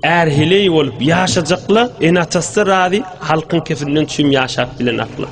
Är heleý bolup ýaşajakla, ene-atasy razy, halkyň kefinden çüým ýaşap bilen akla.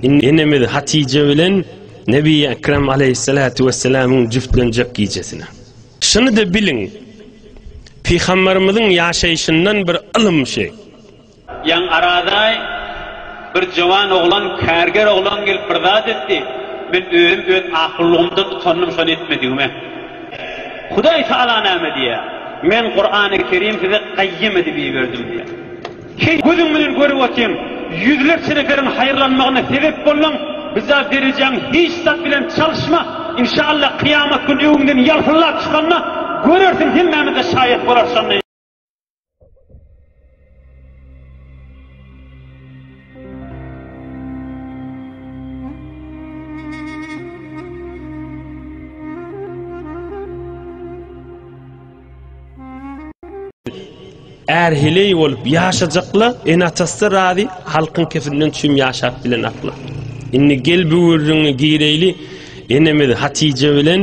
Indi enemiz Hatije bilen Nebi Ekrem aleýhissalatu wesselamyň jübtlenjek gijesine. Şuny-da biliň, Pygamberimiziň ýaşaýşyndan bir ylym şi. Ýaňy arada bir jowan oglan, kärger oglan gelip bir zat etdi. Men özüm öz akyllygymdan utandym şony etmedigime. Hudaý tagala näme diýýär? Men Kurany Kerim size gaýym edip iberdim diýýär. Heý, gözüň bilen görüp otyň, ýüzlerçe neperiň haýyrlanmagyna sebep bolduň, bizaý derejäň hiç zat bilen çalyşma, inşallah kyýamat güni öňüňden ýalpyllap çykanda görersiň hemmämiz-de şaýat bolarys şonda. erheleý bolup ýaşajakla en atasy razy halkyň kefinden çüm ýaşap bilen akla indi gel bu gürrüňi gireýli enemiz hatije bilen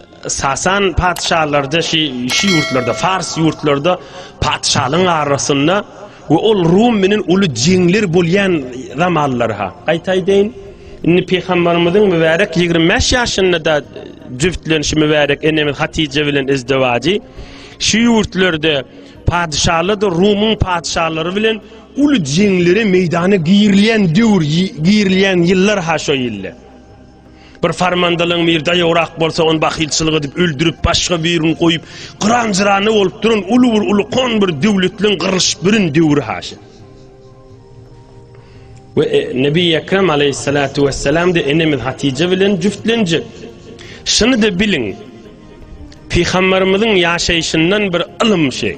Sasan patyşalarda şi şi ýurtlarda fars ýurtlarda patyşalygyň arasynda we ol rum menen uly jeňler bolýan zamanlary ha. Gaýtaýdeýin, indi Pygambarymyzyň mübärek ýigrimi bäş ýaşynda da jübtlenişi mübärek enemiz Hatyja bilen izdewajy şi ýurtlarda patyşalarda rumyň patyşalary bilen uly jeňlere meýdana girilýän döwür girilýän ýyllar ha şo ýyllar. Bir farmandalyň bir daýograk bolsa ony bahylçylyk edip öldürip başga birini goýup gyran jyrany bolup duran uly bir ulukon bir döwletliň gyrlyşyp birin döwri haşa. Ve e, Nebi Ekrem aleyhissalatu vesselam de enemiz Hatice bilen cüftlenecek. Şunu da bilin. Peygamberimizin yaşayışından bir ılım şey.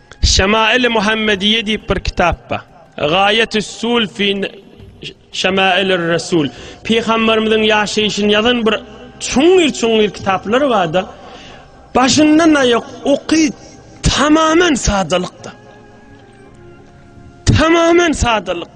Şemail-i Muhammediýe diýip bir kitap bar. Gaýetüs-sul fi Şemailir Resul. Pygamberimiziň ýaşaýşyny ýazan bir çuňňur-çuňňur kitaplar bardyr. Başyndan aýak oky tamamen sadalykda. Tamamen sadalyk.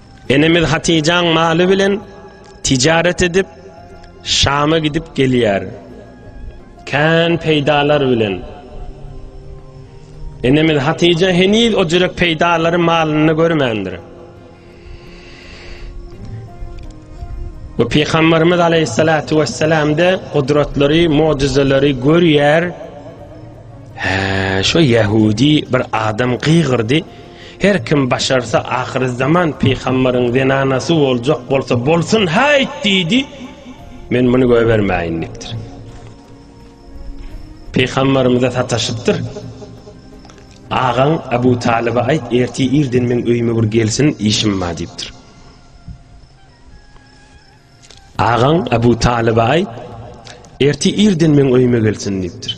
Enemiz Hatyjaň maly bilen tijaret edip, Şama gidip gelýär. Kän peýdalar bilen. Enemiz Hatyja heniz o jürek peýdalary malyny görmändir. Bu Peygamberimiz Aleyhissalatu vesselam de kudretleri, mucizeleri görýär. He, şu Yahudi bir adam kıygırdı. Her kim başarsa ahyrzaman pygambaryň zenanasy boljak bolsa bolsun haýt diýdi, men muny goýbermäýindikdir. Pygambarymyza sataşypdyr. Agaň Abu Talyba aýt, erti irden meň öýüme bir gelsin, işim bar diýipdir. Agaň Abu Talyba aýt, erti irden meň öýüme gelsin diýipdir.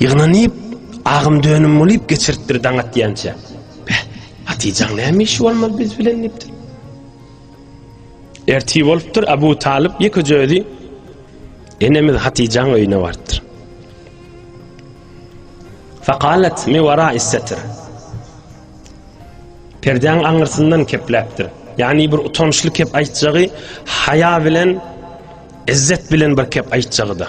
Ýygnanyp, agym-dönüm bolup geçiripdir daň atýança. Beh, Hatyjaň näme işi bolmaly biz bilen diýipdir. Ertir bolupdyr, Abu Talyp ýekeje özi enemiz Hatyjaň öýüne barypdyr. Fakalet mi wara istetir. Perdäň aňyrsyndan kepläpdir. Ýagny bir utançly kep aýtjagy, haýa bilen, izzet bilen bir kep aýtjagy-da.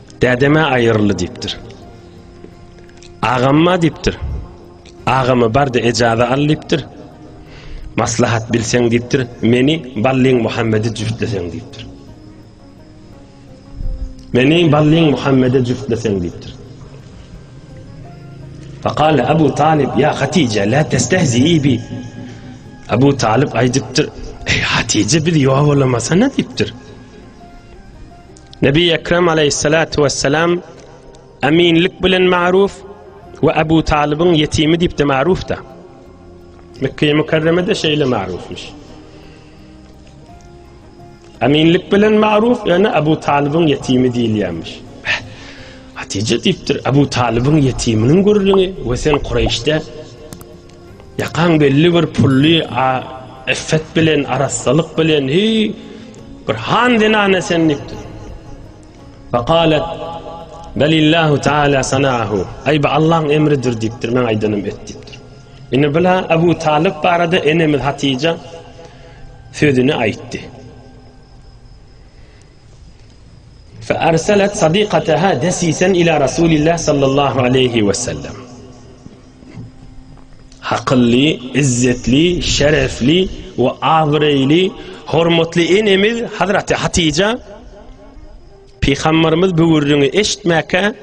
Dädeme aýyryldy diýipdir. Agamma diýipdir. Agamy bardy ejaza al diýipdir. Maslahat bilseň diýipdir. Meni Ballyň Muhammedi jüftleseň diýipdir. Meni Ballyň Muhammedi jüftleseň diýipdir. Faqal Abu Talib ya Hatije la testehzi bi. Abu Talib aýdypdyr. Ey Hatije biz ýogalamasa ne diýipdir. Nebi Ekrem aleýhissalatu wesselam eminlik bilen magruw we Abu Talybyň ýetimi diýip-de magruwda. Mekkeýe mükerremede şeýle magruwmyş. Eminlik bilen magruw, ýöne Abu Talybyň ýetimi diýilýärmiş. Hatije diýipdir, Abu Talybyň ýetiminiň gürrüňi we sen Kureýşde Ýakaň belli bir pully a iffet bilen, arassalyk bilen, hi bir han zenana sen diýipdir. Faqalat Belillahu taala sanahu. Aý bu Allahyň emridir diýipdir, men aýdanym et diýipdir. Indi bula Abu Talyp barada enemiz Hatija sözüni aýtdy. Fa arsalat sadiqataha desisen ila Rasulillah sallallahu aleyhi ve sellem. Hakylly, izzetli, şerefli we abyreýli hormatly enemiz Hazraty Hatija Pygambarymyz bu gürrüňi eşitmäkä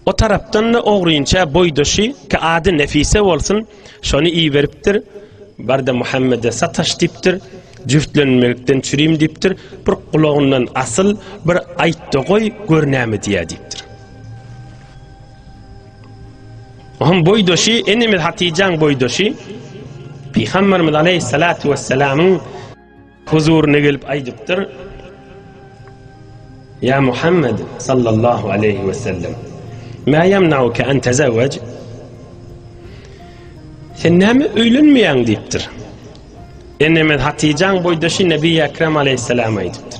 O tarapdan da ogrynça boýdaşy ki ady Nefise bolsun, şony iberipdir. Barda Muhammede sataş dipdir. Jüftlenmekden çürim dipdir. Bir gulagyndan asyl, bir aýtda goý, gör näme diýýär dipdir. Onuň boýdaşy, enemiz Hatijäň boýdaşy Pygamberimiz aleyhissalatu vesselamyň huzuryna gelip aýdypdyr. Ya Muhammed sallallahu aleyhi ve sellem Ma yemnauke en tezevvec Sen näme öýlenmeýäň diýipdir. Enemiz Hatijaň boýdaşy Nebi Ekrem aleyhissalama aýdypdyr.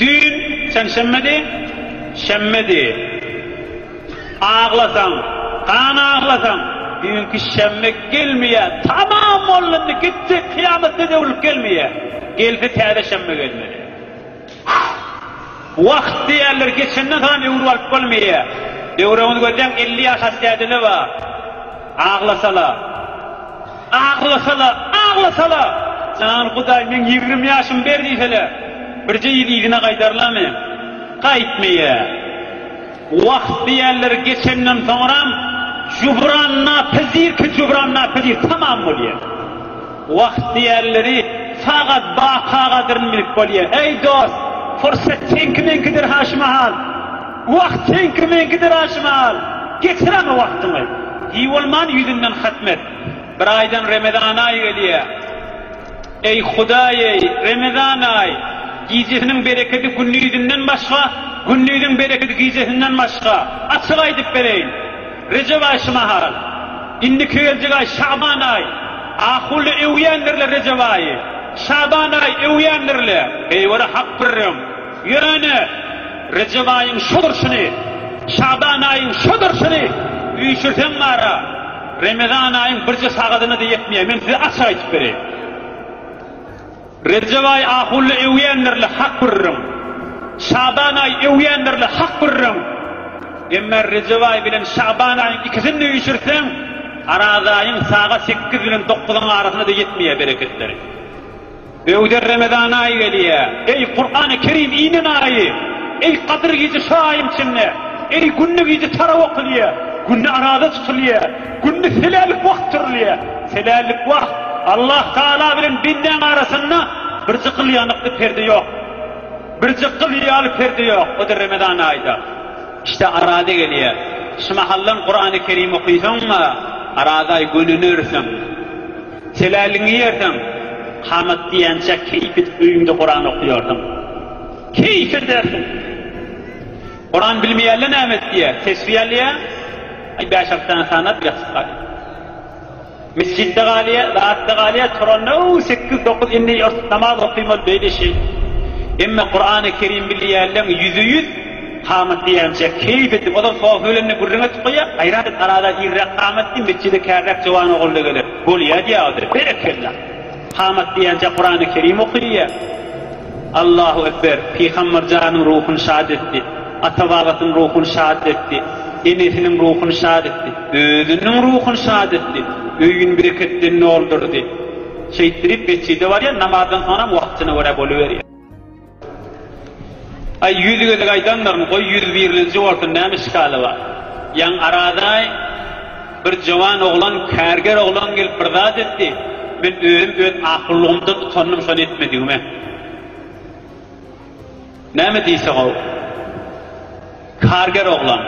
Düýn çenşenbedi, şenbedi. Aglasaň, gan aglasaň, düýnki şenbe gelmeýä. Tamam boldy indi, gitdi, kyýamatda döwlüp gelmeýä. Gelse täze şenbe gelmeli. Wagt diýerler, geçenden soňam öwrüp alyp bolmaýa. Döwregiňizi gözläň, elli ýaş aşdaýdele bar. Aglasala. Aglasa-la, aglasa-la! Jan Hudaý, meň ýigrimi ýaşym ber diýse-le, birje ýyl yzyna gaýdarlamy? Gaýtmaýa. Wagt diýerleri geçenden soňram, jubran napyzirki jubran napyzir tamam bolýa. Wagt diýerleri sagat baka gadyryny bilip bolýa. Eý, dost, pursat seňki-meňkidir haşmahal. Wagt seňki-meňkidir haşmahal. Geçirema wagtyňy. Diýbolman ýüzünden hatm et. Bir aýdan Remezan aýy gelýär. Eý, Hudaý-eý, Remezan aýy, gijesiniň berekedi gündizinden başga, gündiziň berekedi gijesinden başga, açyk aýdyp bereýin. Rejep aýy şu mahal. Indiki geljek aý Şaban aýy. Ahuly öwýändir-le Rejep aýy. Şaban aýy öwýändir-le. Beýwara hak birem. Ýöne, Rejep aýyň şu durşuny, Şaban aýyň şu durşuny üýşürseň bar-a. Remezan aýyň birje sagadyna-da ýetmeýär. Men size açyk aýdyp bereýin. Rejep aýy ahunly öwýändir-le, hak gürrüň. Şaban aýy öwýändir-le, hak gürrüň. Emma Rejep aýy bilen Şaban aýyň ikisini-de üýşürtseň, Araz aýyň sagat sekiz bilen dokuzyň arasyna-da ýetmeýär bereketleri. Böwder Remezan aýy gelýä. Eý, Kurany Kerim inen aýy! Eý, Gadyr gije şo aýyň içinde! Eý, günde gije tarap okulýa! Günde araza çykylýa! Günde helälik wagt turulýa! Helälik wagt! Allah Taala bilen bendäň arasynda birje gyl ýanykly perde ýok. Birje gyl ýaly perde ýok. O-da Remezan aýda. Işte araza gelýä. Şu mahaldan Kurany Kerim okysaň-a, araza gönünersiň. Seläliňi ýersiň, kamat diýençä keýpidip öýüňde Kuran okaýarsyň. Keýp edersiň. Kuran bilmeýänler näme etýär? Tesbi alýar, aý bäş-alty sany sanap ýatyp galýar. Mesjitde galýar, zatda galýar, turanda ow sekiz-dokuz indi ýurt namaz okaýmaly beýle şeýle. Emma Kurany Kerim bilýänleň ýüze ýüz. Kamat diýýänçä, keýp etdik. Ozal soha ölenine gürrüň etip goýýarys. Aýra bir garaza irräk kamat diý, metjide kärräk jowan ogul-da geler. Bolýa diýýä ozal. Berekella! Kamat diýýänçä Kurany Kerim okyýa. Allahu ekber! Pygamber janyň ruhuny şat etdi. Ata-babasynyň ruhuny şat etdi. Enesiniň ruhuny şat etdi. Özüniň ruhuny şat etdi. Öýüni bereket bilen doldurdy. Şeýtdirip metjide barýar, namazdan soňam wagtyna görä boluberýär. Aý ýüz gezek aýdanlaryn goý ýüz birlinji bolsun näme işgaly bar. Ýaň aradaý bir jowan oglan kärger oglan gelip bir zat etdi, men özüm öz akyllygymdan utandym şony etmedigime. Näme diýse gowy. Karger oglan.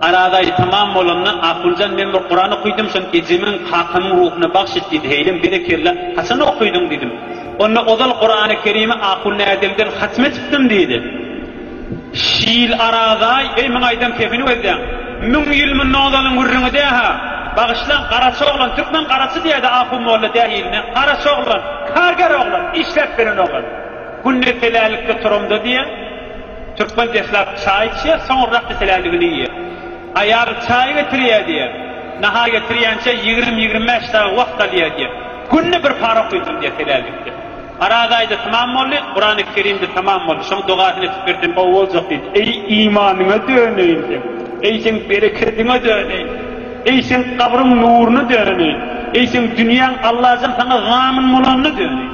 Aradaý tamam bolanda Akuljan men bir Kuran okydim şony ejemiň kakamyň ruhuna bagş et diýdi heýlem berekella haçan okydyň diýdim. Onda ozal Kurany kerimi Akulnäzemden hatm etipdim diýdi. Şiil Aradaý eý muň aýdan kefini gözleň. Müň ýyl mundan ozalyň gürrüňi dähä. Bagyşlaň Garaçy oglan türkmen Garaçy diýädi Aku molla dähiline Garaçy oglan, karger oglan, işläp beren oglan. Günde telälikde turamda diýä. Türkmen deslap çaý içýär, soňurrak diseläligini iýýär. Aýaly çaý getirýär diýýär. Nahar getirýänçä ýigrimi-ýigrimi bäş dagy wagt alýar diýýär. Günde bir para okuyjyn diýýär helälikde. Oraz aýda tamam boldy, Kurany Kerimde tamam boldy. Şoň dogasyny etip ber diýdim, gowy boljak diýdi. Eý imanyňa döneýin sen, eý seň berekediňe döneýin, eý seň gabryň nuryna döneýin, eý seň dünýäň Allajan saňa zamin bolanyna döneýin.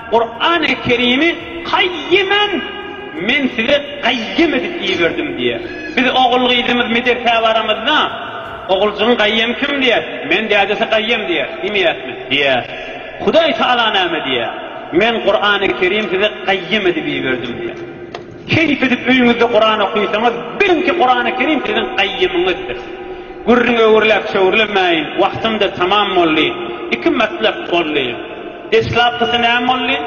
Kurany Kerimi Kaýyman Men sizi Gaýym edip iberdim diýýär. Biz ogul-gyzymyz medersä baramyzda, Oguljygyň Gaýym kim? diýer. Men dädesi Gaýym diýer. Diýmeýäsmi? Diýýäs. Hudaý Tagala näme diýýär? Men Kurany Kerim sizi Gaýym edip iberdim diýýär. Keýp edip öýüňizde Kuran okysaňyz, biliň ki Kurany Kerim siziň gaýymyňyzdyr. Gürrüň öwürläp çöwürlemäýin, wagtymda tamam boldy. Iki matlap boldy. Deslapkysy näme boldy?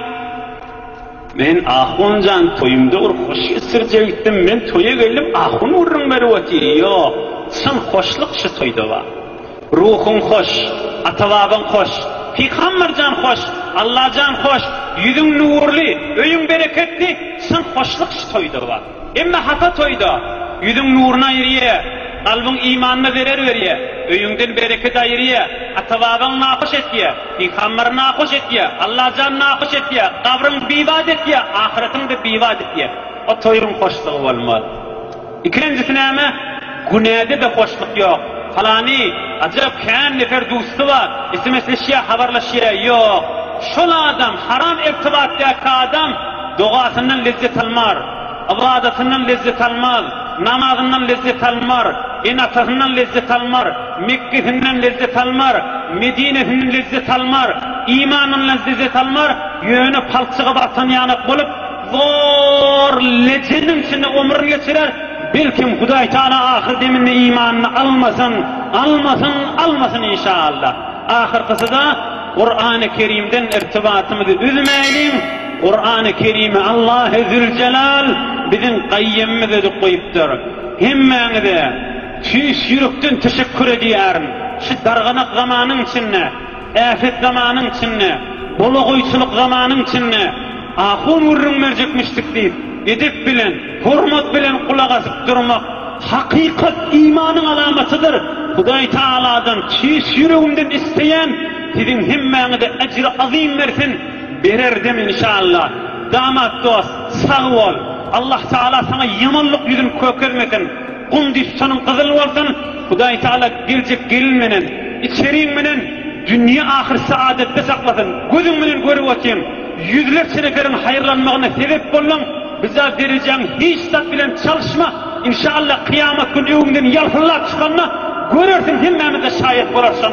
Men ahun jan toýumda bir hoş geçirjek itdim, men toýa geldim ahun gürrüň berip otyr. Ýok, çyn hoşluk şu toýda bar. Ruhuň hoş, ata-babaň hoş, pygamberjan hoş, Allajan hoş, ýüzüň nurly, öýüň bereketli, çyn hoşluk şu toýda bar. Emma hapa toýda, ýüzüň nuruny aýyrýa, kalbyň imanyna zerer berýä, öýüňden bereket aýyrýa, ata-babaň nahoş etýä, pygamber nahoş etýä, Allajan nahoş etýä, gabryň bibat etýä, ahyretyň-da bibat etýä. O toýuň hoşlugy bolmaz. Ikinjisi näme? Günäde-de hoşluk ýok. Palany, ajap, kän nefer dusty bar, sms-leşýä, habarlaşýa. Ýok, şol adam, haram irtibatdaky adam dogasyndan lezzet almar, ybadatyndan lezzet almaz, namazyndan lezzet almar, ene-atasyndan lezzet almar, Mekgesinden lezzet almar, Medinesinden lezzet almar, imanyndan lezzet almar, ýöne palçygy barsan ýanak bolup, Zor leçeniň içinde omrun geçirer, belkim Hudaý Taala ahyr deminde imanyny almasyn, almasyn, almasyn inşallah. Ahyrkysyda Kurany Kerimden irtibatymyzy üzmäýliň, Kurany Kerimi Allahy Züljelal biziň Gaýýymymyz özi goýupdyr. Hemmäňize tüýs ýürekden teşekkur edýärin, şu darganak zamanyň içinde, Äpet zamanyň içinde, bolagoýçylyk zamanyň içinde ahun gürrüň berjekmişdik diýip, edep bilen, hormat bilen gulak asyp durmak, hakykat imanyň alamatydyr. Hudaý Tagaladan çyş ýüregimden isleýän, siziň hemmäňize ejri azym bersin, berer-dem inşallah. Damat dost, sag bol! Allah Tagala saňa ýamanlyk ýüzün kökezmesin! Gum düşsün gyzyl bolsun Hudaý Taala geljek gelin menen içeriň menen dünýe ahyr saadatda saklasyn gözüň bilen görüp otyň ýüzlerçe neferiň haýyrlanmagyna sebep bolduň biza berejaň hiç zat bilen çalyşma inşallah kyýamat gün öwüňden ýalpyllap çykanda görersiň hemmämiz de şaýat bolarys şonda.